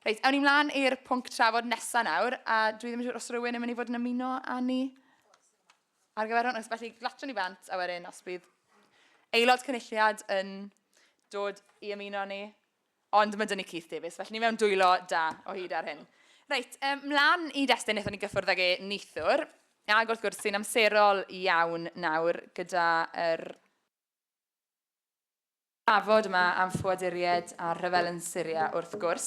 Reit, awn ni mlaen i'r pwnc trafod nesaf nawr, a dwi ddim yn siŵr os rhywun yn mynd i fod yn ymuno â ni ar gyfer hwn. Felly, glatio ni bant, a wedyn os bydd aelod cynulliad yn dod i ymuno ni, ond mae dyn ni Keith Davies, felly ni mewn dwylo da o hyd ar hyn. Reit, um, mlaen i destyn wnaethon ni gyffwrdd ag e neithwr, ag wrth gwrs sy'n amserol iawn nawr gyda'r er Trafod yma am ffoaduriaid a rhyfel yn Syria wrth gwrs.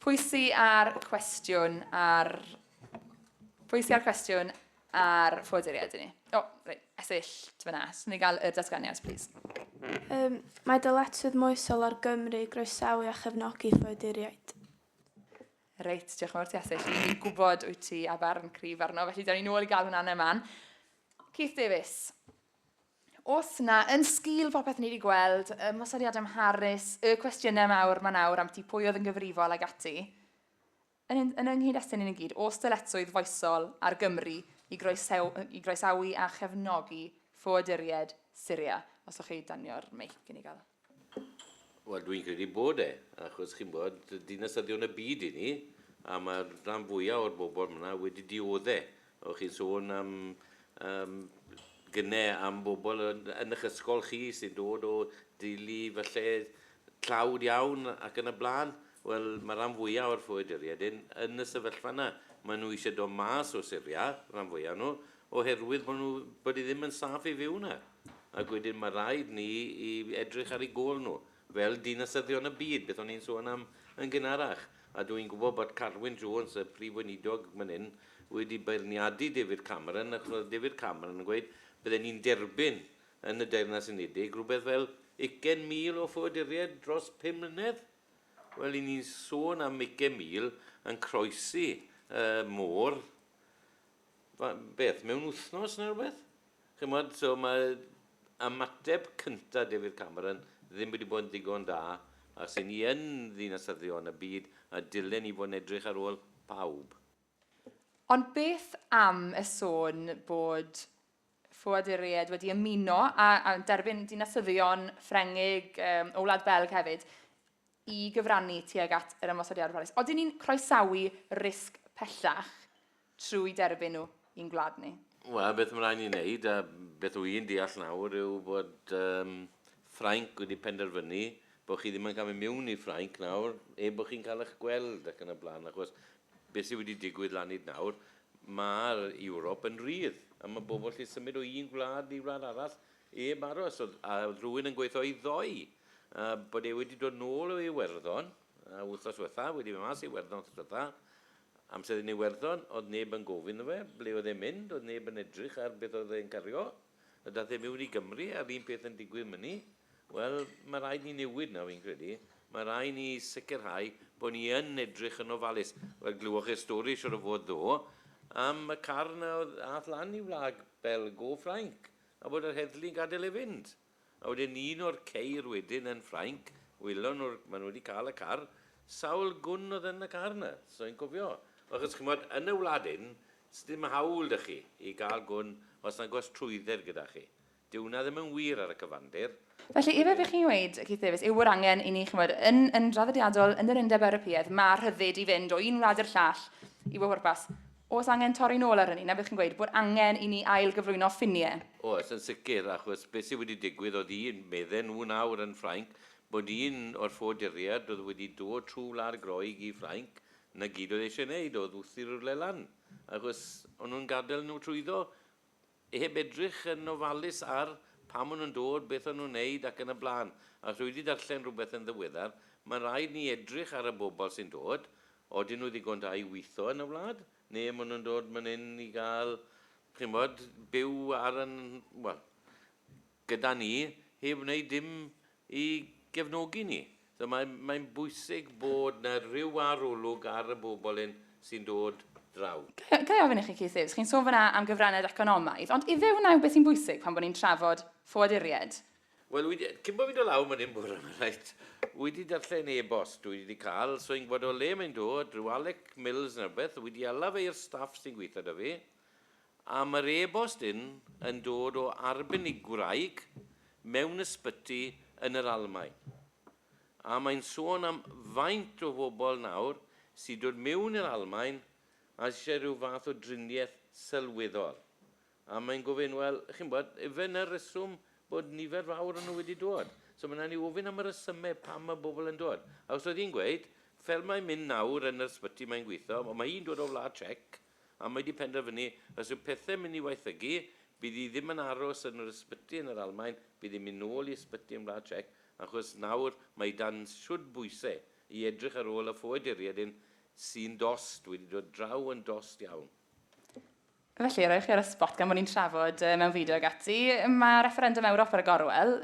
Pwy sy ar cwestiwn ar... Pwy sy ar cwestiwn ar ffoaduriaid i ni? O, oh, reit, esill, ti fyna. Swn ni gael y datganiad, plîs. Um, mae dyletswydd moesol ar Gymru groesawu a chefnogi ffoaduriaid. Reit, diolch yn fawr ti Asys. Fi'n gwybod wyt ti a barn cryf arno, felly da ni'n ôl i gael hwnna yna man. Keith Davies. Os na, yn sgil popeth ni wedi gweld, y mosodiad am Harris, y cwestiynau mawr mae nawr am ti pwy oedd yn gyfrifol ag ati, yn, yn, yn ynghyd estyn yn y gyd, os dyletswydd foesol ar Gymru i, groesaw, i groesawu a chefnogi ffoaduried Syria, os o'ch chi danio'r meic i ni gael. Wel, dwi'n credu bod e, achos chi'n bod, dinasyddion y byd i ni, a mae'r rhan fwyaf o'r bobl yna wedi diodde'. O'ch chi'n sôn am um, gynne am bobl yn, yn eich ysgol chi sy'n dod o deulu falle tlawd iawn ac yn y blaen. Wel, mae rhan fwyaf o'r ffoaduriaid yn, yn y sefyllfa yna. Maen nhw eisiau dod mas o Syria, rhan fwyaf nhw, oherwydd bod nhw, bod hi ddim yn saff i fyw 'na. Ac wedyn ma' raid ni i edrych ar eu gôl nhw, fel dinasyddion y byd, beth o'n i'n sôn am yn gynharach. A dw i'n gwybod bod Carwyn Jones, y Prif Weinidog man hyn, wedi beirniadu David Cameron, achos oedd David Cameron yn gweud bydden ni'n derbyn yn y Deyrnas Unedig rhywbeth fel ugain mil o ffoaduriaid dros pum mlynedd. Wel, i ni'n sôn am ugain mil yn croesi y môr, beth, mewn wythnos neu rhywbeth? Chimod, so mae ymateb cyntaf David Cameron ddim wedi bod yn ddigon da, a os 'y ni yn ddinasyddion y byd, a dylen ni fod yn edrych ar ôl pawb. Ond beth am y sôn bod ffoaduriaid wedi ymuno a derbyn dinasyddion Ffrengig o Wlad Belg hefyd, i gyfrannu tuag at yr ymosodiadau Paris. Oedden ni'n croesawu risg pellach trwy derbyn nhw i'n gwlad ni? Wel, beth mae rhaid ni wneud, a beth wy'n deall nawr, yw bod um, Ffrainc wedi penderfynu bod chi ddim yn cael mynd miwn i Ffrainc nawr, e bod chi'n cael eich gweld ac yn y blaen, achos beth sydd wedi digwydd lan hyd nawr, mae'r Ewrop yn rhydd, a mae bobl lle symud o un gwlad i wlad arall, Heb aros, oedd oedd rhywun yn gweithio i ddoe, a bod e wedi dod nôl o Iwerddon, yy wythnos dwetha, wedi mynd mas i Iwerddon wythnos dwetha, amser yn Iwerddon, oedd neb yn gofyn 'tho fe ble oedd e'n mynd, oedd neb yn edrych ar beth oedd e'n cario, a daeth e miwn i Gymru, a'r un peth yn digwydd myni. Wel, ma' raid ni newid 'na, fi'n credu. Ma' rai' ni sicrhau bo' ni yn edrych yn ofalus. Wel, glywoch chi'r stori siŵr o fod ddo, am y car 'na oedd ath lan i wlad Belg o Ffrainc, A bod yr heddlu'n gadael e fynd. A wedyn un o'r ceir wedyn yn Ffrainc, wylon nhw'r, maen nhw wedi cael y car, sawl gwn oedd yn y car yna, so i'n cofio. Achos chimod, yn y wlad hyn, sdim hawl da chi i gael gwn os nag oes trwydded gyda chi. Dyw hwnna ddim yn wir ar y cyfandir. Felly, efe bych chi'n ddweud, Keith Davies, yw bod angen i ni, chymod, yn, yn draddodiadol, yn yr Undeb Ewropeaidd, mae rhyddid i fynd o un wlad i'r llall i fy hwrpas. Oes angen torri nôl ar hynny, na bych chi'n gweud bod angen i ni ail gyflwyno ffiniau? Oes, yn sicr, achos beth sydd wedi digwydd oedd un, medden nhw nawr yn Ffrainc, bod un o'r ffoaduriaid oedd wedi dod trwy Wlad Groeg i Ffrainc, 'na gyd oedd e eisiau wneud oedd wthi'r rywle lan, achos o'n nhw'n gadael nhw trwyddo. I heb edrych yn ofalus ar pam maen nhw'n dod, beth o'n nhw'n wneud ac yn y blaen. A os dwi 'di darllen rhywbeth yn ddiweddar, mae'n rhaid ni edrych ar y bobl sy'n dod, odyn nhw ddigon da i weitho yn y wlad, neu maen nhw'n dod man hyn i gael, chi'n gwybod, byw ar yn, wel, gyda ni heb wneud dim i gefnogi ni. So mae mae'n bwysig bod 'na ryw arolwg ar y bobl hyn sy'n dod draw. Ga, ga i ofyn i chi Keith Hughes, chi'n sôn fan'na am gyfraniad economaidd, ond ife wnna yw beth sy'n bwysig pan bod ni'n trafod ffoaduriaid? Wel, wedi, cyn bod fi'n dod lawr fan hyn bore 'ma, reit, wedi darllen e-bost dwi wedi cael, so i'n gwybod o le mae'n dod, rhyw Alec Mills neu rywbeth, wedi hala fe i'r staff sy'n gweithio 'da fi, A mae'r e-bost hyn yn dod o arbenigwraig mewn ysbyty yn yr Almaen. A mae'n sôn am faint o fobl nawr sy'n dod mewn i'r Almaen a eisiau rhyw fath o driniaeth sylweddol. A mae'n gofyn, wel, chi'n gwybod, ife 'na'r reswm bod nifer fawr o nhw wedi dod? So mae'n angen i ofyn am y resymau pam mae bobl yn dod. Achos oedd hi'n gweud, fel mae'n mynd nawr yn yr ysbyty mae'n gweithio, ond mae hi'n dod o Wlad Tsiec, A mae 'di penderfynu, os yw pethe'n mynd i waethygu, bydd hi ddim yn aros yn yr ysbyty yn yr Almaen, bydd hi'n mynd nôl i ysbyty yn Wlad Tsiec, achos nawr mae hi dan shwd bwyse i edrych ar ôl y ffoaduriaid hyn sy'n dost, wedi dod draw yn dost iawn. Felly, rhoi chi ar y sbot gan bod ni'n trafod mewn fideo ag ati, mae refferendwm Ewrop ar y gorwel,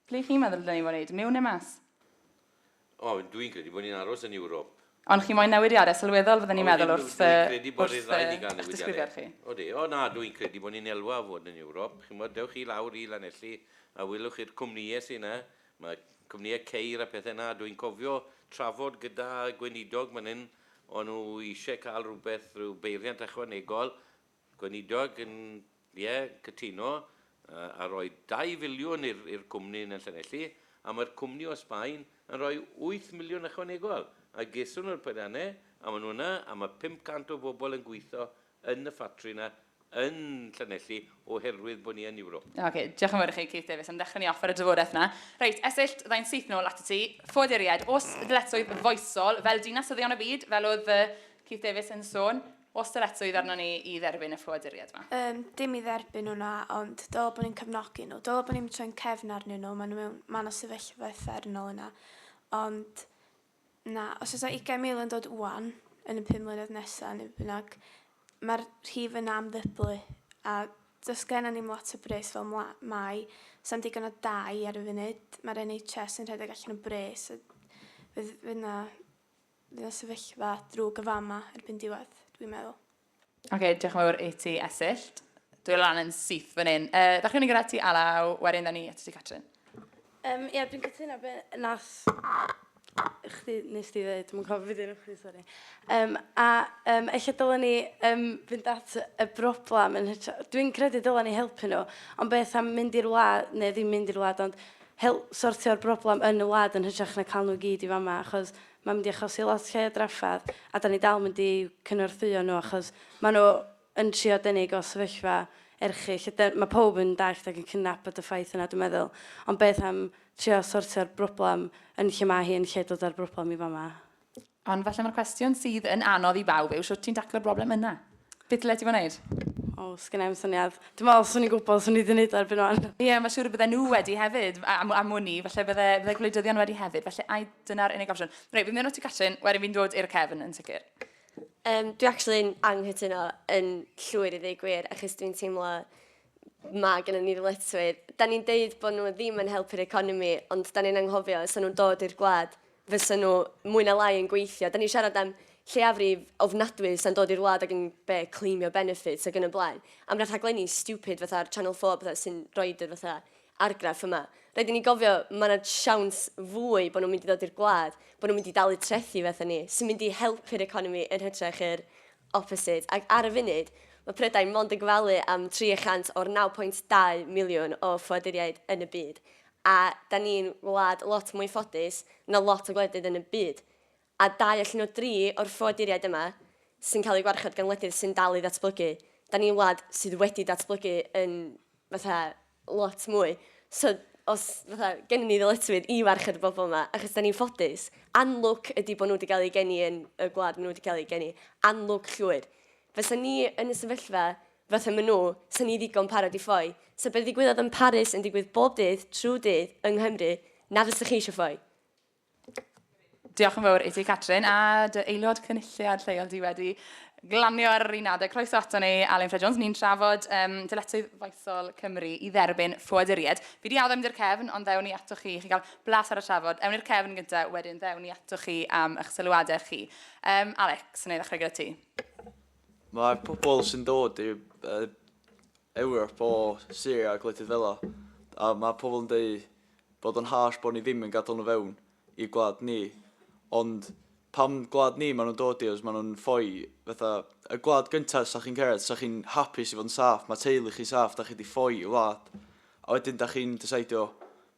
ble chi'n meddwl y dylen ni fod yn wneud, miwn neu mas? O, dw i'n credu bod ni'n aros yn Ewrop. Ond chi moyn newidiadau sylweddol fydden i'n meddwl wrth eich disgrifiad chi. Odi, o na, dw i'n credu bod ni'n elwa o fod yn Ewrop. Chimod, dewch chi lawr i Lanelli a welwch chi'r cwmnïau sy' 'na, ma' cwmnïau ceir a pethe 'na, dw i'n cofio trafod gyda gweinidog fan hyn, o'n nhw isie cael rhywbeth, rhyw beiriant ychwanegol, Gweinidog, Yn ie, cytuno, a rhoi dau filiwn i'r cwmni yn y Llanelli, a mae'r cwmni o Sbaen yn rhoi wyth miliwn ychwanegol, a geson nhw'r peiriannau, a maen nhw yna, a mae 500 o bobl yn gweithio yn y ffatri yna yn Llanelli oherwydd bod ni yn Ewrop. Ocê, diolch yn fawr i chi, Keith Davies, am ddechrau ni off ar y drafodaeth yna. Reit, Esyllt, fydda i'n syth nôl atat ti. Ffoaduriaid, oes ddyletswydd foesol fel Dinas Syddion y Byd, fel oedd Keith Davies yn sôn, Oes dyletswydd arnon ni i dderbyn y ffoaduriaid yma? Yym, dim i dderbyn nhw, na, ond dylai bod ni'n cefnogi nhw. Dylai bod ni'n troi'n cefn arnyn nhw, maen nhw mewn man o sefyllfa uffernol yna. Ond, na, os oes 'na 20,000 yn dod ŵan, yn y pum mlynedd nesaf, neu beth bynnag, mae'r rhif yna am ddyblu, a does gennym ni'm lot o bres fel mla- mae, sa'm digon o dai ar y funud, mae'r NHS yn rhedeg allan o bres, a fydd, fydd 'na Fydd y sefyllfa drwg yn fama erbyn diwedd, dwi'n meddwl. Ok, diolch yn fawr i ti, Esyllt. Dwi lan yn syth fan hyn. Uh, ddechrau ni gyda ti, Alaw, wedyn da ni at ti, Catrin. Um, Ie, yeah, dwi'n cytuno be nas chdi, nes di ddweud, dwi'n cofio beth i'n chdi, sori. Um, a um, eich dylen ni um, fynd at y broblem yn hytrach. Dwi'n credu dylen ni helpu nhw, ond beth am mynd i'r wlad, neu ddim mynd i'r wlad, ond help sortio'r broblem yn y wlad yn hytrach na cael nhw i gyd i fama achos mae'n mynd i achosi lot llai o drafferth a dan ni dal mynd i cynorthwyo nhw achos maen nhw yn trio denig o sefyllfa erchyll a mae pawb yn dallt ac yn cydnabod y ffaith yna dwi'n meddwl ond beth am trio sortio'r broblem yn lle mae hi yn lle dod â'r broblem i fama. Ond falle mae'r cwestiwn sydd yn anodd i bawb yw sut ti'n taclo'r broblem yna? Beth ddyle ti fod wneud? O, sgyn i'n syniad. Dwi'n meddwl, swn i'n gwybod, swn i wedi gwneud erbyn o'n. Ie, yeah, mae'n siŵr y bydde nhw wedi hefyd, a, a, a mwni, falle bydde, bydde gwleidyddion wedi hefyd, falle ai dyna'r unig opsiwn. Reit, fi'n mynd o ti Catrin, wedyn fi'n dod i'r cefn yn sicr. Um, dwi actually yn anghytuno yn llwyr i ddweud gwir, achos dwi'n teimlo mae gen i ni ddyletswydd. Da ni'n deud bod nhw ddim yn helpu'r economi, ond da ni'n anghofio, os nhw'n dod i'r gwlad, fysa nhw mwy na lai yn gweithio. Dan ni'n siarad am lleiafrif ofnadwy sy'n dod i'r wlad ac yn be, claimio benefits ac yn y blaen. Am rai rhaglenni stupid fatha ar Channel 4 a petha sy'n rhoid yr fatha argraff yma. Rhaid i ni gofio, mae yna siawns fwy bod nhw'n mynd i ddod i'r gwlad, bod nhw'n mynd i dalu trethi fatha ni, sy'n mynd i helpu'r economi yn hytrach yr opposite. Ac ar y funud, mae Prydain mond yn gofalu am 300 o'r 9.2 miliwn o ffoaduriaid yn y byd. a 'da ni'n wlad lot mwy ffodus na lot o gwledydd yn y byd, a dau allan o dri o'r ffoaduriaid yma sy'n cael eu gwarchod gan wledydd sy'n dal i ddatblygu, 'da ni'n wlad sydd wedi datblygu yn fatha lot mwy, so os fatha gennym ni ddyletswydd i warchod y bobl yma achos 'da ni'n ffodus. Anlwc ydi bod nhw wedi cael eu geni yn y gwlad maen nhw wedi cael eu geni, anlwc llwyr. Fysa ni yn y sefyllfa fatha ma nhw, 'sa ni ddigon parod i ffoi. 'Sa be ddigwyddodd yn Paris yn digwydd bob dydd trwy dydd yng Nghymru, na fysach chi eisiau ffoi. Diolch yn fawr i ti Catrin a dy aelod cynulliad lleol di wedi glanio ar yr un adeg. Croeso ato ni Alun Ffred Jones, ni'n trafod um, dyletswydd faethol Cymru i dderbyn ffoaduriaid. Fi di addo mynd i'r cefn ond ddewn ni ato chi, chi gael blas ar y trafod. Ewn i'r cefn gyntaf, wedyn ddewn ni ato chi am eich sylwadau chi. Um, Alex, yn ei ddechrau gyda ti. Mae pobl sy'n dod i uh, Ewrop o Syria a gwledydd fel a mae pobl yn dweud bod o'n harsh bod ni ddim yn gadael nhw fewn i gwlad ni. Ond pam gwlad ni maen nhw'n dod i os maen nhw'n ffoi fatha y gwlad gyntaf sa chi'n cyrraedd, sa chi'n hapus i fod yn saff, mae teulu chi'n saff, da chi wedi ffoi i wlad. A wedyn da chi'n dysaidio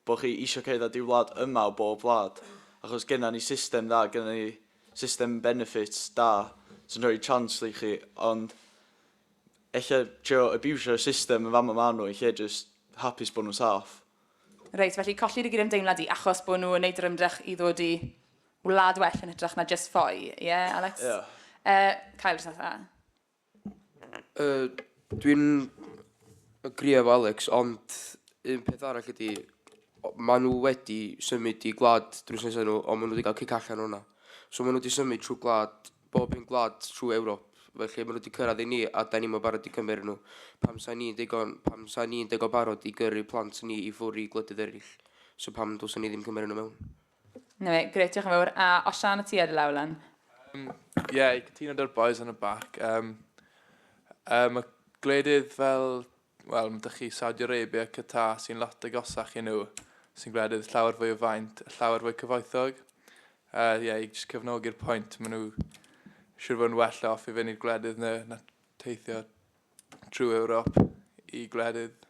bod chi eisiau cerdded i wlad yma o bob wlad. Achos genna ni system dda, genna ni system benefit da sy'n rhoi chance i chi ond ella trio abusio'r system yn fama ma nhw yn lle jyst hapus bod nhw'n saff. Reit, felly colli'r i gydymdeimlad i achos bod nhw yn neud yr ymdrech i ddod i wlad well yn hytrach na jyst ffoi, ie Alex? Ie. Yy Kyle jyst fatha. Yy dwi'n agree efo Alex ond un peth arall ydi o- ma' nhw wedi symud i gwlad drws nesa nhw ond ma' nhw wedi cael cic allan o hwnna. So ma' nhw wedi symud trwy gwlad bob un gwlad trwy Ewrop felly ma' nhw wedi cyrraedd i ni a dan ni'm yn barod i cymryd nhw pam sa ni'n ddigon pam sa ni'n ddigon barod i gyrru plant ni i ffwr i gwledydd eraill so pam dylsen ni ddim cymryd nhw mewn? 'Na fe, grêt, diolch yn fawr. A Osian a ti ar y law lan? Um, ie, yeah, i cytuno dy'r boys yn y bac. Um, um, y gwledydd fel, wel, mae dych chi Saudi Arabia, Qatar sy'n lot agosach i nhw, sy'n gwledydd llawer fwy o faint, llawer fwy cyfoethog. Ie, uh, yeah, i just cyfnogi'r pwynt, maen nhw siwr fod yn well off i fynd i'r gwledydd na, na teithio trwy Ewrop i gwledydd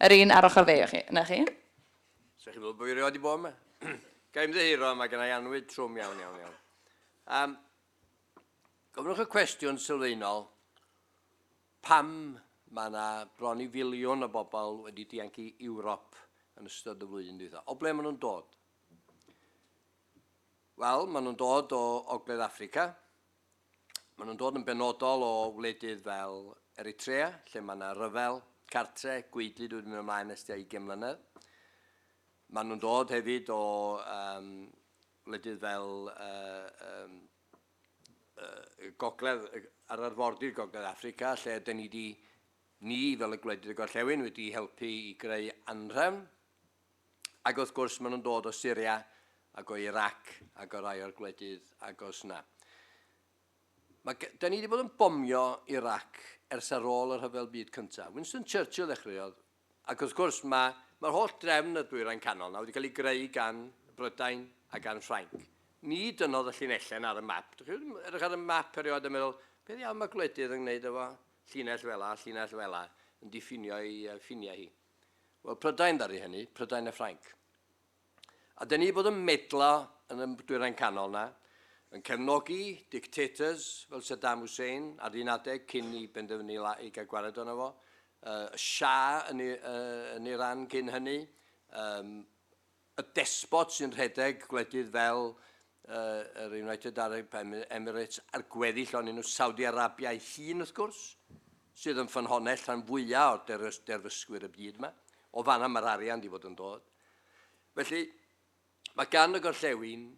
Yr un ar ochr fi, chi, 'na chi. Sa chi'n meddwl bo fi rioed di bod 'ma? Ga i ymddiheuro, mae gennai annwyd trwm iawn, iawn, iawn. Um, gofynnwch y cwestiwn sylfaenol, pam mae yna bron i filiwn o bobl wedi dianc i Ewrop yn ystod y flwyddyn dwytha? O ble maen nhw'n dod? Wel, maen nhw'n dod o Ogledd Africa, Maen nhw'n dod yn benodol o wledydd fel Eritrea, lle mae yna ryfel cartre, gwaedlyd wedi mynd ymlaen nes tua 20 mlynedd. Maen nhw'n dod hefyd o um, wledydd fel uh, um, uh, gogledd, ar arfordir gogledd Africa, lle dyn ni wedi ni fel y gwledydd y gorllewin wedi helpu i greu anrhefn Ac wrth gwrs, maen nhw'n dod o Syria ac o Irac ac o rai o'r gwledydd agos 'na. Mae, da ni wedi bod yn bomio Irac ers ar ôl y rhyfel byd cyntaf. Winston Churchill ddechreuodd, ac wrth gwrs mae, mae'r holl drefn y dwyrain canol na wedi cael ei greu gan Brydain a gan Ffrainc. Ni dynnodd y llinellau ar y map. Dych chi'n edrych ar y map erioed a meddwl, beth iawn mae gwledydd yn gwneud efo llinell fela, llinell fela, yn diffinio ei ffiniau hi. Wel, Prydain ddaru hynny, Prydain a Ffrainc. A dyn ni bod yn medla yn y dwyrain canol na, yn cefnogi dictators fel Saddam Hussein ar un adeg cyn i benderfynu i gael gwared ono fo, uh, y Shah yn, uh, yn Iran cyn hynny, um, Y despot sy'n rhedeg gwledydd fel yr United Arab Emirates a'r gweddill onyn nhw, Saudi Arabia ei hun wrth gwrs, sydd yn ffynhonnell rhan fwyaf o'r derfysgwyr y byd yma. O fanna mae'r arian wedi bod yn dod. Felly, mae gan y gorllewin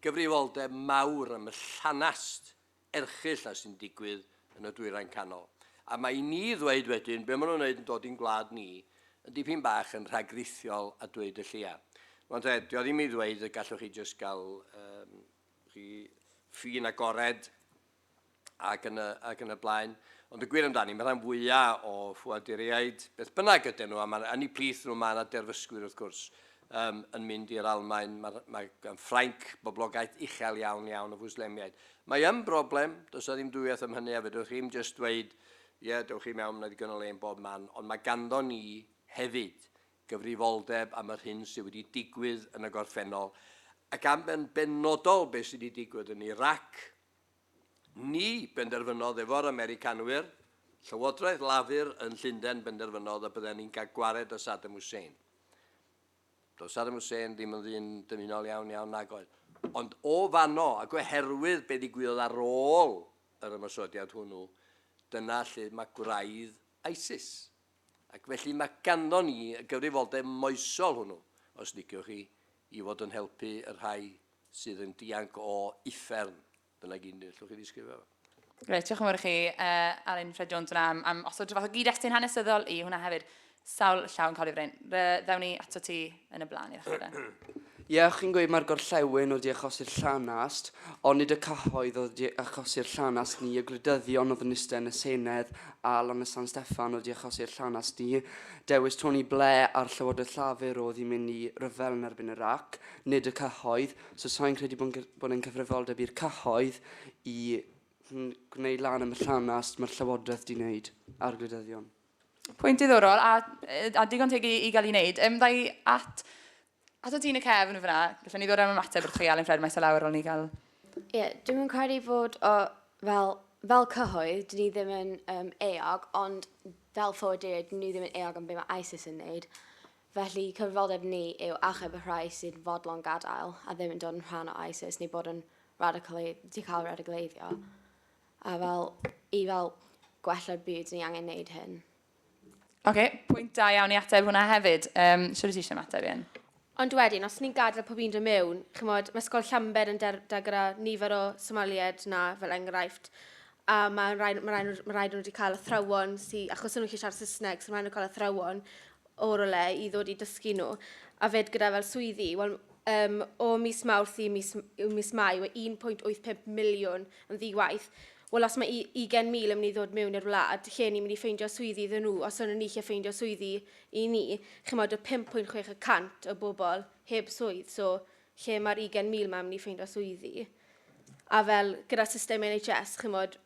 gyfrifoldeb mawr am y llanast erchyll a sy'n digwydd yn y Dwyrain Canol. A mae i ni ddweud wedyn be maen nhw'n wneud yn dod i'n gwlad ni yn dipyn bach yn rhagrithiol a dweud y lleia. Mae'n dde, dio ddim i ddweud y gallwch chi jyst gael um, chi ffin agored ac yn y, ac yn y blaen. Ond y gwir amdani, mae rhan fwyaf o ffoaduriaid, beth bynnag ydyn nhw, a mae'n anni plith nhw, mae yna derfysgwyr wrth gwrs, um, yn mynd i'r Almain, mae, mae gan Ffrainc boblogaeth uchel iawn iawn o fwslemiaid. Mae yn broblem, does na ddim dwywaith am hynny, a fedrwch chi'n just dweud, ie, yeah, dewch chi mewn, mae ddigon o le yn bob man, ond mae ganddo ni hefyd gyfrifoldeb am yr hyn sydd wedi digwydd yn y gorffennol, ac am yn benodol beth sydd wedi digwydd yn Iraq, Ni benderfynodd efo'r Americanwyr, Llywodraeth Lafur yn Llundain benderfynodd y bydden ni'n cael gwared â Saddam Hussein. Doedd Saddam Hussein ddim yn ddyn dymunol iawn iawn nag oedd. Ond o fanno, ac oherwydd be ddigwyddodd ar ôl yr ymosodiad hwnnw, dyna lle mae gwraidd ISIS. ac felly mae ganddo ni y gyfrifoldeb moesol hwnnw, os liciwch chi, i fod yn helpu y rhai sydd yn dianc o uffern, dyna gyd ni, allwch chi ddisgrifio fo. Reit, diolch yn fawr i chi, uh, Alun Ffred Jones yna, am, am osod rhywbeth o gyd-destun hanesyddol i hwnna hefyd. Sawl llaw yn cael ei frein. Re, ddewn ni ato ti, yn y blaen i'r chwarae. Ie, chi'n gweud mae'r gorllewin wedi achosi'r llanast, ond nid y cyhoedd oedd wedi achosi'r llanast ni, y gwleidyddion oedd yn eistedd yn y Senedd a Lan y San Steffan wedi achosi'r llanast ni. Dewis Tony Blair a'r Llywodraeth Llafur oedd i mynd i ryfel yn erbyn Iraq, nid y cyhoedd, so sa'n credu bod, bod yn cyfrifoldeb i'r cyhoedd i gwneud lan am y llanast mae'r Llywodraeth di wneud a'r gwleidyddion. Pwynt diddorol a, a digon teg i, i gael ei wneud. Um, ddau at, at o tîn y cefn fyna, gallwn ni ddod am ymateb wrth chi Alun Ffred maes o lawr o'n ni gael... Ie, yeah, dwi'n yn credu fod o, fel, fel cyhoedd, dyn ni ddim yn um, eog, ond fel ffoaduriaid, dyn ni ddim yn eog am beth mae ISIS yn wneud. Felly, cyfrifoldeb ni yw achub y rhai sy'n fodlon gadael a ddim yn dod yn rhan o ISIS neu bod yn radicali- di cael radicaleiddio. A fel, i fel gwella'r byd, ni angen neud hyn. Ok, pwynt da iawn i ateb hwnna hefyd. Um, Siwr i ti eisiau ymateb i hyn? Ond wedyn, os ni'n gadael pob un dod mewn, chymod, mae Ysgol Llanbed yn da gyda nifer o Somaliaid na, fel enghraifft, a mae'n rhaid, ma rhaid, ma rhaid nhw wedi cael athrawon sy'n, achos nhw'n gallu siarad Saesneg, so mae'n rhaid nhw cael athrawon o rywle i ddod i dysgu nhw a fyd gyda fel swyddi, wel um, o mis Mawrth i mis, i mis Mai, mae 1.85 miliwn yn ddi-waith. Wel, os mae 20,000 yn mynd i ddod mewn i'r wlad, lle ni'n mynd i ffeindio swyddi iddyn nhw, os o'n ni lle ffeindio swyddi i ni, chymod y 5.6 y cant o bobl heb swydd, so lle mae'r 20,000 mae'n mynd i ffeindio swyddi. A fel gyda system NHS, chymod,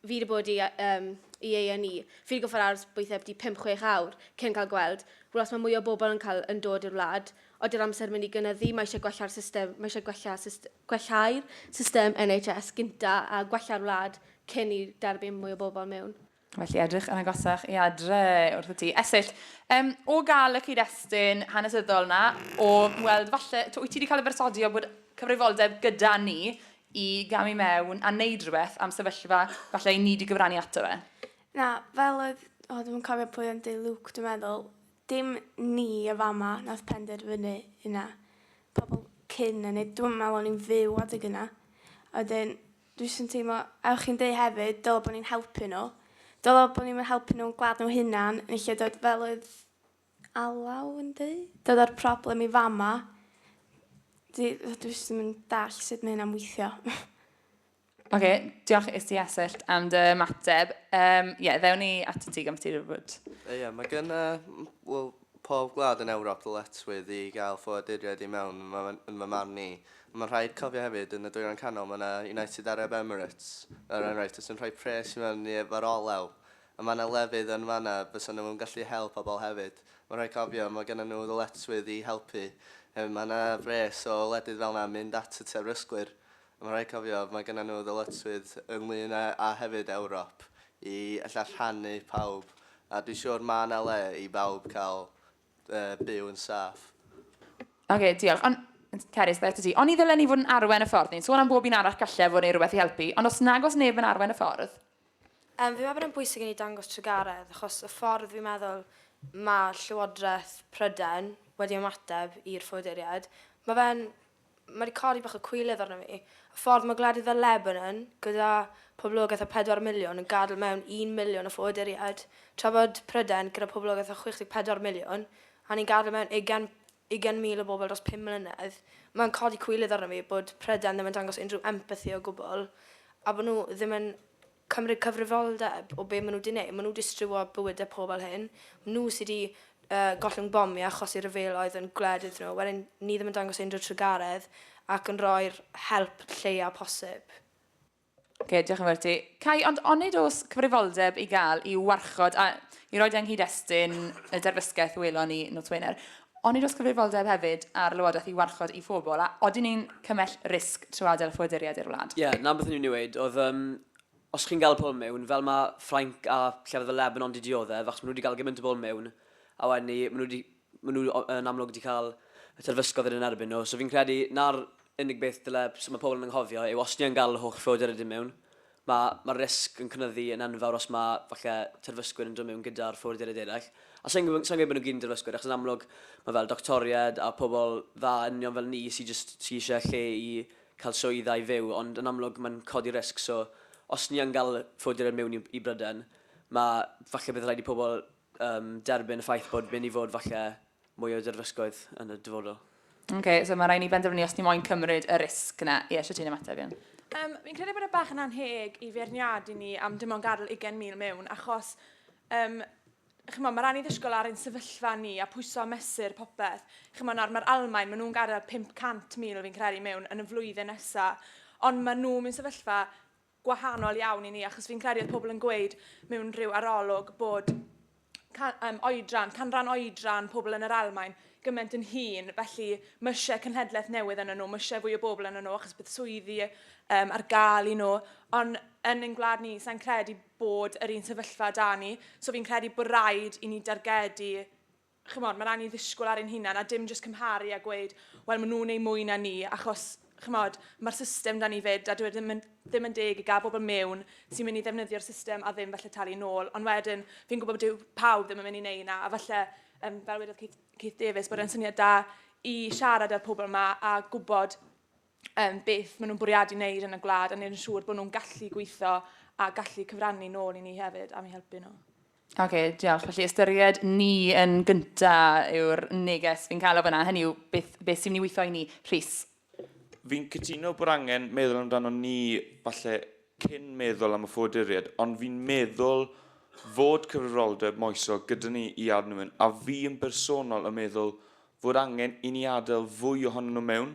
fi wedi bod i, um, i A&E, fi wedi gorfod aros weithiau byti 5-6 awr cyn cael gweld. Wel, os mae mwy o bobl yn, cael, yn dod i'r wlad, ody'r amser mynd i gynyddu, mae eisiau gwella'r system, mae eisiau gwella syst, gwellau'r system NHS gynta a gwella'r wlad cyn i derbyn mwy o bobl mewn. Felly edrych yn agosach i adre wrth y ti. Esill, um, o gael y cyd-destun hanesyddol na, o weld falle, to, wyt ti wedi cael y bersodi o bod cyfrifoldeb gyda ni i gamu i mewn a neud rhywbeth am sefyllfa falle i ni di gyfrannu ato fe? Na, fel oedd, o ddim yn cofio pwy ond ei Luke dwi'n meddwl, dim ni y fama nath penderfynu hynna. Pobl cyn yn ei, dwi'n meddwl o'n i'n fyw adeg yna. Oedden, dwi'n sy'n teimlo, a o'ch chi'n dweud hefyd, dylo bod ni'n helpu nhw. Dylo bod ni'n helpu nhw'n gwlad nhw hunan, yn lle dod fel oedd Alaw yndi? Dyna'r problem i fama. Dwi jyst ddim yn dall sut mae hynna'n weithio. Ok, diolch is ti Esyllt am dy ymateb. Um, yeah, ddewn ni at y ti gan ti rhywbryd. Ie, yeah, mae gen uh, well, pob gwlad yn Ewrop ddyletwydd i gael ffoaduriaid i mewn yn fy marn i. Mae'n rhaid cofio hefyd, yn y dwyrain canol mae yna United Arab Emirates, er enghraifft, sy'n rhoi pres i mewn i efo'r olew. A mae 'na lefydd yn fan'na fysa nhw'n gallu help pobl hefyd. Mae'n rhaid cofio, mae gennyn nhw ddyletswydd i helpu. Hefyd, mae 'na wres o wledydd fel 'na yn mynd at y terfysgwyr. A mae'n rhaid cofio, mae gennyn nhw ddyletswydd ynglŷn â, a hefyd Ewrop, i ella rhannu pawb. A dwi'n siŵr mae 'na le i bawb cael byw yn saff. Ok, diolch. Ond, Cerys, ddaeth â ti. Oni ddylen ni fod yn arwain y ffordd? Ni'n sôn am bob un arall gallai fod yn ei rywbeth i helpu, ond os nag oes neb yn arwain y ffordd? Yym, fi'n meddwl bod e'n bwysig i ni dangos trugaredd achos y ffordd fi'n meddwl mae Llywodraeth Prydain wedi ymateb i'r ffoaduriaid, mae fe'n... mae wedi codi bach o cwilydd arno fi. Y ffordd mae gwledydd fel Lebanon, gyda poblogaeth o 4 miliwn, yn gadael mewn 1 miliwn o ffoaduriaid, tra bod Prydain, gyda poblogaeth o 64 miliwn, a ni'n gadael mewn ugain ugain mil o bobl dros pum mlynedd, mae'n codi cwilydd arna fi bod Prydain ddim yn dangos unrhyw empathi o gwbl, a bod nhw ddim yn cymryd cyfrifoldeb o be maen nhw 'di neud. Maen nhw 'di striwo bywydau pobl hŷn. Maen nhw sy 'di yy gollwng bom i achosi rhyfeloedd yn gwled iddyn nhw. Wedyn ni ddim yn dangos unrhyw trugaredd ac yn rhoi'r help lleia posib. Oce, diolch yn fawr i ti. Cai, ond onid oes cyfrifoldeb i gael i'w warchod, a i roed yng nghyd-destun y derfysgaeth welon ni nos Wener, onid oes cyfrifoldeb hefyd ar Lywodraeth i warchod ei phobl, a odyn ni'n cymell risg trwy adael ffoaduriaid i'r wlad? Ie, 'na beth o'n i'n mynd i weud, oedd yym, os chi'n gael pobl mewn, fel ma' Ffrainc a llefydd fel Lebanon 'di diodde', f'achos ma' nhw 'di gael gymaint o bobl mewn, a wedyn 'ny ma' nhw 'di Maen nhw yn amlwg wedi cael y terfysgoedd yn erbyn nhw, so fi'n credu na'r unig beth dyle mae pobl yn anghofio yw os ni yn gael y holl ffoadur ydyn mewn, mae, mae'r risg yn cynyddu yn enfawr os mae falle terfysgwyr yn dod mewn gyda'r ffoaduriaid eraill. A sa'n gwybod, sa'n gwybod bod nhw gyd yn terfysgwyr, achos yn amlwg mae fel doctoriaid a pobl dda union fel ni sy'n just, sy eisiau lle i cael swydd a'i fyw, ond yn amlwg mae'n codi risg, so os ni yn gael ffoaduriaid mewn i, i Bryden, mae falle bydd rhaid i pobl um, derbyn y ffaith bod mynd i fod falle mwy o derfysgoedd yn y dyfodol. Oce, okay, so mae rhaid ni benderfynu os ni moyn cymryd y risg yna. Ie, eisiau ti'n ymateb, Ian? Um, fi'n credu bod y e bach yn anheg i feirniadu ni am dim ond gadael 20,000 mewn, achos um, chymo, mae rhan i ddysgol ar ein sefyllfa ni a pwyso mesur popeth. Chymo, nawr mae'r Almain, maen nhw'n gadael 500,000 fi'n credu mewn yn y flwyddyn nesaf, ond maen nhw'n mynd sefyllfa gwahanol iawn i ni, achos fi'n credu oedd pobl yn gweud mewn rhyw arolwg bod can, um, oedran, canran oedran pobl yn yr Almain gymaint yn hun, felly mysiau cynhedlaeth newydd yn nhw, mysiau fwy o bobl yn nhw, achos bydd swyddi um, ar gael i nhw, ond yn ein gwlad ni, sa'n credu bod yr un sefyllfa da ni, so fi'n credu bod rhaid i ni dargedu ch'mod, ma'n rai' ni ddisgwyl ar ein hunan a dim jyst cymharu a gweud, wel, maen nhw'n ei mwy na ni, achos, ch'mod, mae'r system da ni 'fyd, a dyw e ddim yn, ddim yn deg i gael bobl mewn sy'n mynd i ddefnyddio'r system a ddim falle talu nôl. Ond wedyn, fi'n gwybod bod dyw pawb ddim yn mynd i wneud yna, a falle, um, fel wedodd Keith, Keith Davis, bod e'n syniad da i siarad â'r pobl yma a gwybod um, beth maen nhw'n bwriadu wneud yn y gwlad a wneud yn siŵr bod nhw'n gallu gweithio a gallu cyfrannu nôl i ni hefyd am i helpu nhw. Oce, okay, diolch. Felly ystyried ni yn gynta yw'r neges fi'n cael o fyna. Hynny yw, beth, beth sy'n mynd i weithio i ni? Rhys? Fi'n cytuno bod angen meddwl amdano ni falle cyn meddwl am y ffoduriad, ond fi'n meddwl fod cyfrifoldeb moesol gyda ni i adnwyn, a fi yn bersonol yn meddwl fod angen i ni adael fwy ohonyn nhw mewn.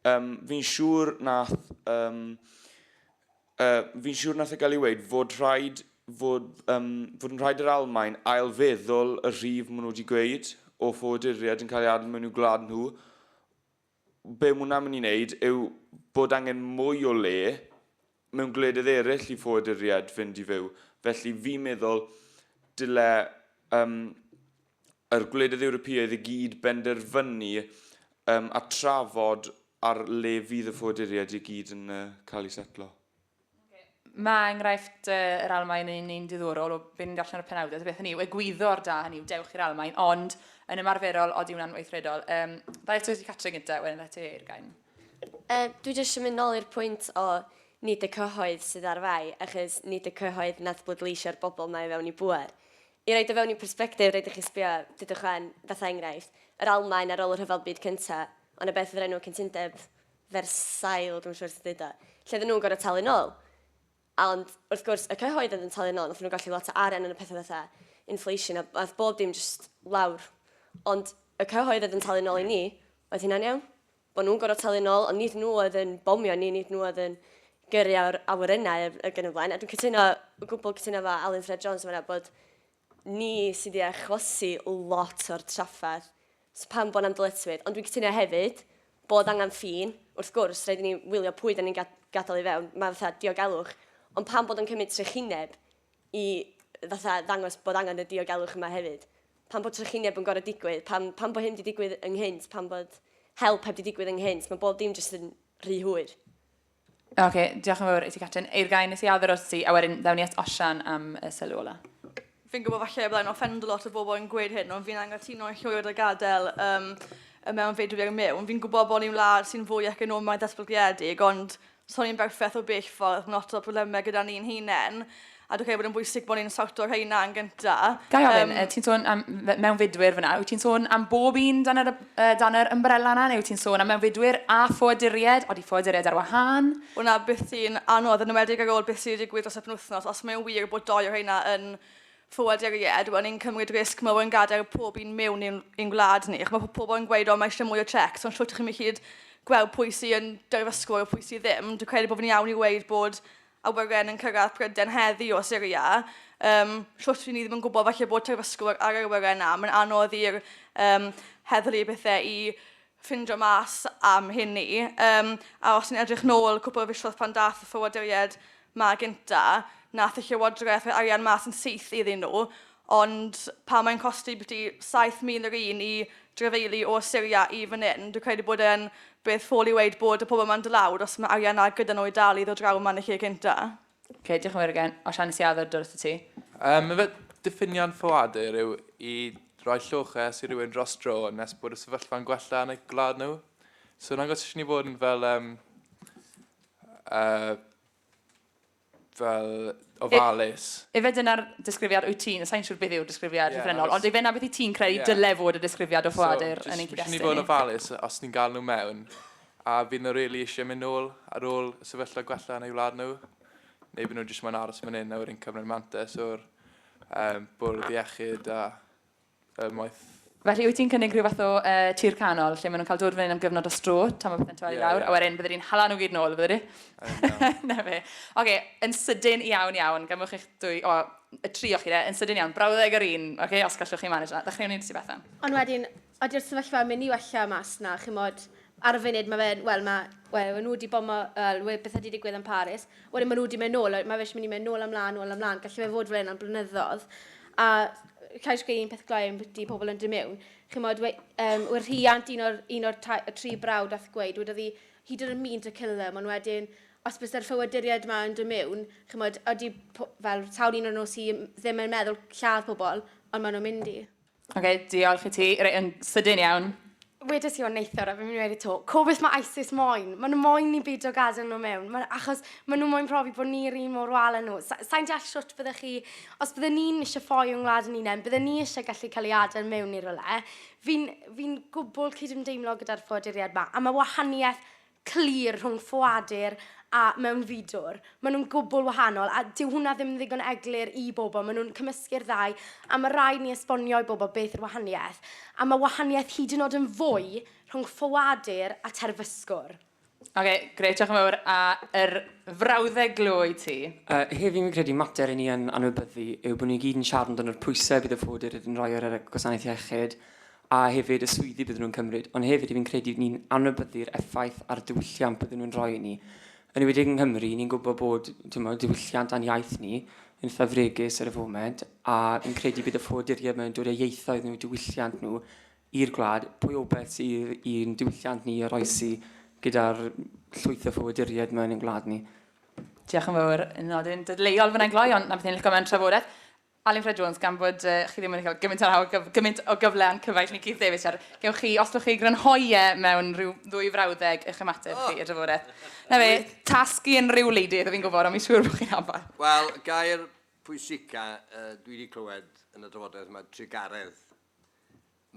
Um, fi'n siŵr nath... Um, uh, fi'n siŵr nath e gael ei weid fod rhaid fod, um, fod yn rhaid yr Almain ailfeddwl y rhif maen nhw wedi gweud o ffoaduriaid yn cael ei adael mewn i'w gwlad nhw Be mae hwnna'n mynd i wneud yw bod angen mwy o le mewn gwledydd eraill i ffoaduriaid fynd i fyw. Felly fi'n meddwl dyle um, yr gwledydd Ewropeaidd i gyd benderfynu um, a trafod ar le fydd y ffoaduriaid i gyd yn uh, cael eu setlo. Mae enghraifft yr Almaen yn un diddorol o be ni'n darllen ar y penawdau, ta beth hynny yw, egwyddor da hynny yw, dewch i'r Almaen, ond yn ymarferol, odi wna'n weithredol. Um, da eto i Catrin gyda, wedyn da ti i'r gain. Uh, dwi jyst yn mynd nôl i'r pwynt o nid y cyhoedd sydd ar fai, achos nid y cyhoedd nath bleidleisio'r bobl mae fewn i bwer. I roed o fewn i perspectif, rhaid i chi sbio, dydwch wen, fatha enghraifft, yr Almaen ar ôl y rhyfel byd cynta, ond y beth oedd yr enw cyntundeb Versailles, dwi'm yn siŵr sut i ddeud o, lle oedden nhw'n gorfod talu nôl. A ond, wrth gwrs, y cyhoedd oedd yn talu nôl, wnaethon nhw golli lot o arian yn y pethau fatha inflation a aeth bob dim jyst lawr. Ond y cyhoedd oedd yn talu nôl i ni, oedd hynna'n iawn? Bod nhw'n gorfod talu nôl, ond nid nhw oedd yn bomio ni, nid nhw oedd yn gyrru awr- awyrennau ac yn y blaen. A dwi'n cytuno, o gwbl cytuno efo Alun Ffred Jones yn fanna bod ni sydd i achosi lot o'r trafferth so pam bod 'na'm dyletswydd ond dwi'n cytuno hefyd bod angen ffin wrth gwrs rhaid i ni wylio pwy da ni'n ga- gadael i fewn mae fatha diogelwch ond pam bod o'n cymryd trychineb i fatha ddangos bod angen y diogelwch yma hefyd pam bod trychineb yn gorau digwydd pam, pam bod hyn wedi digwydd ynghynt pam bod help heb wedi digwydd ynghynt mae bob dim jyst yn rhy hwyr Oce, okay, diolch yn fawr i ti, Catrin. Eir gain nes i adder os ti, a wedyn ddawn ni at Osian am y sylw ola. Fi'n gwybod falle y byddai'n offend a lot o bobl yn gweud hyn, ond fi'n angytuno i llwyr a gadael um, y mewn fedru ar mewn. Fi'n gwybod bod ni'n wlad sy'n fwy economaidd datblygiedig, ond so ni'n berffaith o bell ffordd, mae lot o problemau gyda ni'n hunain. A dwi'n credu bod yn bwysig bod ni'n sawto rheina yn gyntaf. Gai ofyn, um, ti'n sôn am mewnfudwyr fyna, wyt ti'n sôn am bob un dan yr, uh, dan yr ymbrella yna, neu wyt ti'n sôn am mewnfudwyr a ffoaduried, oeddi ffoaduried ar wahân? Wna beth sy'n anodd yn ymwedig ar ôl beth sy'n digwydd dros y penwthnos, os mae'n wir bod doi o rheina yn ffoaduried, wel ni'n cymryd risg mawr yn gadael pob un mewn i'n, i'n gwlad ni. Ac mae pobl yn gweud, o mae eisiau mwy o checks, ond llwyt chi'n mynd i gyd gweld pwy sy'n dyrfysgwr a pwy sydd ddim. Dwi'n credu bod fi'n iawn i weid bod awyren yn cyrraedd Prydain heddi o Syria, um, shwt ry'n ni ddim yn gwybod falle bod terfysgwyr ar yr awyren na, mae'n anodd i'r um, heddlu bethau i ffindio mas am hyn ni. Um, a os ni'n edrych nôl cwpl o fisoedd pan dath y ffywoduriaid ma gynta, nath y llywodraeth rhoi arian mas yn syth iddyn nhw, Ond pan mae'n costi byti 7,000 yr un i drafeilu o Syria i fan hyn, dwi'n credu bod e'n beth ffôl i weud bod y pobl yma'n dod lawr os mae arian 'na gyda nhw i dal i ddod draw yma yn y lle cynta. Ok, diolch yn fawr again. Os allen i siarad ar dy wrth ti. Yym, efe, diffiniad ffoadur yw i roi lloches i rywun dros dro nes bod y sefyllfa'n gwella yn eu gwlad nhw. So nag os eisiau ni fod yn fel, yym, yy, fel ofalus. Ife dyna'r disgrifiad wyt ti'n, sa'n siŵr beth yw'r disgrifiad llythrennol, ond ife na beth i ti'n credu dyle fod y disgrifiad o ffoadur yn ein cyd-destun ni? So, jyst i fod yn ofalus os ni'n gael nhw mewn, a fydd nhw rili eisiau mynd nôl ar ôl y sefyllfa gwella yn eu wlad nhw, neu fydd nhw jyst moyn aros fan hyn a wedyn cymryd mantais o'r bwrdd iechyd a Ym maith. Felly wyt ti'n cynnig rhyw fath o uh, tir canol lle maen nhw'n cael dod fan hyn am gyfnod o stro tan mae pethau'n torri yeah, lawr yeah. a wedyn bydde di'n hala nhw gyd nôl, bydde di? Na fe. Oce, okay, yn sydyn iawn iawn, gymwch eich dwy, o, y tri o chi de, yn sydyn iawn, brawddeg yr un, oce, okay, os gallwch chi manage na. Dechreuwn ni'n sy'n Bethan. Ond wedyn, ydy'r sefyllfa mynd i wella mas na, chymod, ar y funud mae fe'n, wel mae, wel, nhw wedi bomo, wel, beth ydy digwydd yn Paris, Wedyn maen nhw wedi mynd nôl, a mae fe eisiau mynd i mynd nôl amlaen, nôl amlaen. Gallu fe fod fel hyn am blynyddoedd. A cael eisiau un peth gloi am bwyty pobl yn dy mewn. Chymod, we, um, we'r rhiant, un o'r, un o'r ta, y tri brawd ath gweud, wedodd hi, he didn't mean to kill them, ond wedyn, os bys yr ffywyduriaid yma yn dy mewn, chymod, ydy, fel, sawl un o'n nhw sydd ddim yn meddwl lladd pobl, ond maen nhw'n mynd i. Ok, diolch i ti. Reit, yn sydyn iawn. Wedes i o'n neithiwr a fi'n mynd i wedi to. Co beth mae ISIS moyn? Mae nhw moyn ni beidio gadael nhw mewn. Ma, achos maen nhw moyn profi bod ni'r un mor wal â nhw. Sa, sa'n deall siwt byddech chi... Os byddwn ni'n eisiau ffoi o'n ngwlad yn unain, byddwn ni eisiau gallu cael ei adael mewn i'r rwle. Fi'n fi gwbl cydymdeimlo gyda'r ffoaduriaid ma. A mae wahaniaeth clir rhwng ffoadur a mewnfudwr. Maen nhw'n gwbl wahanol a dyw hwnna ddim yn ddigon eglur i bobl. Maen nhw'n cymysgu'r ddau a mae rhaid ni esbonio i bobl beth yw'r wahaniaeth. A mae wahaniaeth hyd yn oed yn fwy rhwng ffoadur a terfysgwr. Ok, grêt, diolch yn fawr a yr frawddeg glo i ti. Yy, heddiw fi'n credu mater i ni yn anwybyddu yw bod ni gyd yn siarad amdano'r pwyse bydd y ffoadur yn roi ar y gwasanaeth iechyd, a hefyd y swyddi bydden nhw'n cymryd, ond hefyd fi'n credu ni'n anwybyddu'r effaith a'r diwylliant bydden nhw'n rhoi i ni. Yn enwedig yng Nghymru, ni'n gwybod bod timod, diwylliant a'n iaith ni yn eitha fregus ar y foment, a fi'n credu bydd y ffoaduriaid mae'n dod â ieithoedd nhw, diwylliant nhw i'r gwlad. Pwy o beth sydd i'n diwylliant ni oroesi gyda'r llwyth o ffoaduriaid mae'n ein gwlad ni? Diolch yn fawr yn nodyn dadleuol fyna'n gloi, ond na beth ni'n licio mewn trafodaeth. Alun Ffred Jones, gan fod uh, chi ddim wedi cael gymaint, ar gyf, gymaint o gyfle a'n cyfaill ni Keith Davies, ar, gewch chi, os ydych chi grynhoi e mewn rhyw ddwy frawddeg eich ymateb oh. chi y drafodaeth. Na fe, tasgu yn rhyw leidydd, fi'n gwybod, ond mi'n siŵr bod chi'n afael. Wel, gair pwysica uh, dwi wedi clywed yn y drafodaeth yma, trugaredd.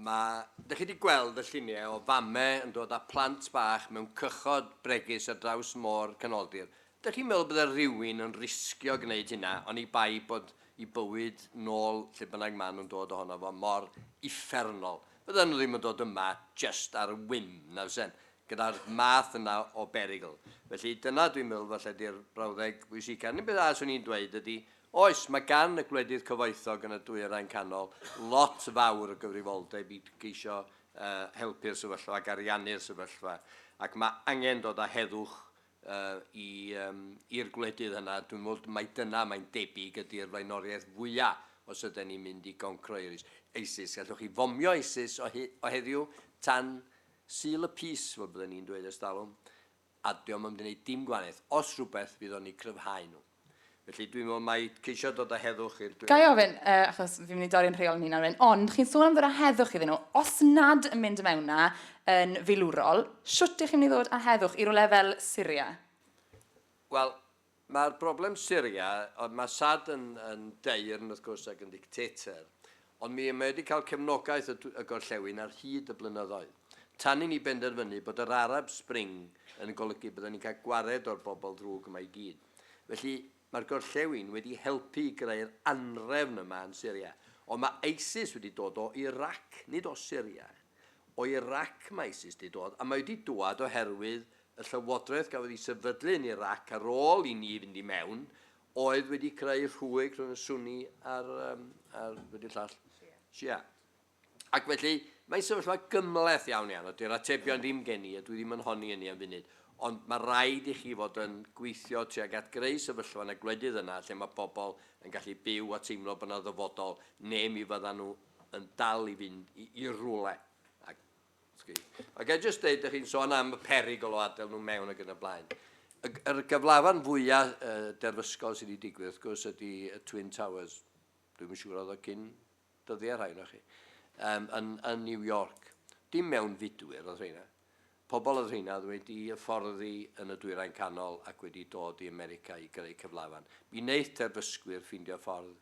Mae, dych chi 'di gweld y lluniau o famau yn dod â plant bach mewn cychod bregus ar draws Môr Canoldir, dych chi'n meddwl bydde rhywun yn risgio gwneud hynna oni bai bod i bywyd nôl lle bynnag maen nhw'n dod ohono fo mor uffernol? Fydden nhw ddim yn dod yma jyst ar whim, na fysen? Gyda'r math yna o berygl. Felly dyna dwi'n meddwl falle 'di'r brawddeg bwysica. Yr unig beth arall 'swn i'n dweud ydy Oes, mae gan y gwledydd cyfoethog yn y Dwyrain Canol lot fawr o gyfrifoldeb i geisio helpu'r sefyllfa ac ariannu'r sefyllfa, ac mae angen dod â heddwch i'r gwledydd yna. Dwi'n meddwl mai dyna, mae'n debyg, ydy'r flaenoriaeth fwyaf os ydyn ni'n mynd i goncro ISIS. Gallwch chi fomio ISIS o heddiw tan Sul y Pys, fel bydden ni'n dweud ers talwm, a dio'm yn mynd i wneud dim gwahaniaeth, os rhywbeth fydd o'n eu cryfhau nhw. Felly dwi'n meddwl mai ceisio dod â heddwch i'r Ga i dwyrain. ofyn, yy, achos fi'n mynd i dorri 'yn rheol 'yn hunan wedyn, ond chi'n sôn am ddod â heddwch iddyn nhw, os nad yn mynd i mewn 'na yn filwrol, shwt 'dych chi'n mynd i ddod â heddwch i rywle fel Syria? Wel, Mae'r broblem Syria, oedd mae Assad yn, yn daearn wrth gwrs ac yn ddictator, ond mi mae wedi cael cefnogaeth y, y gorllewin ar hyd y blynyddoedd. Tan i ni benderfynu bod yr Arab Spring yn golygu bydden ni'n cael gwared o'r bobl ddrwg yma i gyd. Felly, mae'r gorllewin wedi helpu i greu'r anhrefn yma yn Syria. Ond mae ISIS wedi dod o Irac, nid o Syria. O Irac mae ISIS wedi dod, a mae wedi dwad oherwydd y llywodraeth gafodd ei sefydlu yn Irac ar ôl i ni fynd i mewn oedd wedi creu rhwyg rhwng y Sunni a'r, um, a'r wedi llall, Shia. Ac felly, mae'n sefyllfa gymleth iawn iawn, a dy'r atebion ddim gen i, a dwi ddim yn honni hynny am funud, ond mae rhaid i chi fod yn gweithio tuag at greu sefyllfa yn y gwledydd yna lle mae pobl yn gallu byw a teimlo bod yna ddyfodol, neu mi fyddan nhw yn dal i fynd i, i rwle. Ac Ac a jyst dweud, ydych chi'n sôn am y perygl o adael nhw mewn ac yn y blaen. Y, yr gyflafan fwyaf uh, derfysgol sydd wedi digwydd, wrth gwrs, ydy y Twin Towers. Dwi'n yn siŵr oedd o cyn dyddiau rhai na chi. Um, yn, yn New York. Dim mewn fudwyr oedd rheina. Pobl oedd rheina oedd wedi fforddi yn y dwyrain canol ac wedi dod i America i greu cyflafan. Mi wneud terfysgwyr ffeindio ffordd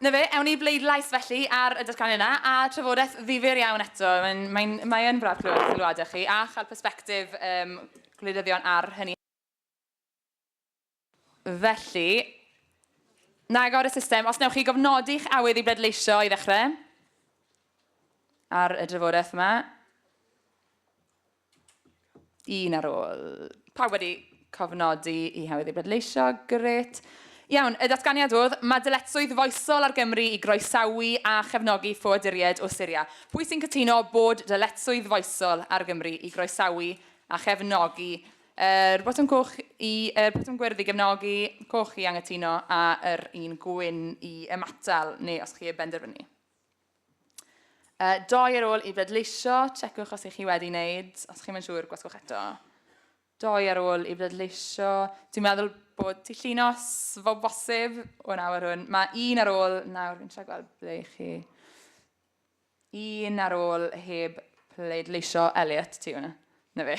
'Na fe, ewn ni i bleidlais felly ar y datganiad yna, a trafodaeth ddifyr iawn eto. Mae'n, mae'n, mae yn braf clywed eich sylwadau chi a chael persbectif um, gwleidyddion ar hynny. Felly, na agor y system. Os newch chi gofnodi'ch awydd i bleidleisio i ddechrau ar y drafodaeth yma. Un ar ôl. Pawb wedi cofnodi i hawyddu bleidleisio. Grêt. Iawn, y datganiad oedd, mae dyletswydd foesol ar Gymru i groesawu a chefnogi ffoaduriaid o Syria. Pwy sy'n cytuno bod dyletswydd foesol ar Gymru i groesawu a chefnogi yr er, botwm coch i, yr er, botwm gwyrdd i gefnogi, coch i anghytuno, a'r er, un gwyn i ymatal, neu os chi y benderfynu. E, doi ar ôl i bleidleisio, checwch os ych chi wedi wneud, os chi'n mynd siŵr, gwasgwch eto. Doi ar ôl i bleidleisio, dwi'n meddwl bod ti llinos fo bosib o'n awr hwn. Mae un ar ôl, nawr fi'n siarad gweld ble chi. Un ar ôl heb pleidleisio, Elliot, ti hwnna. Na fe.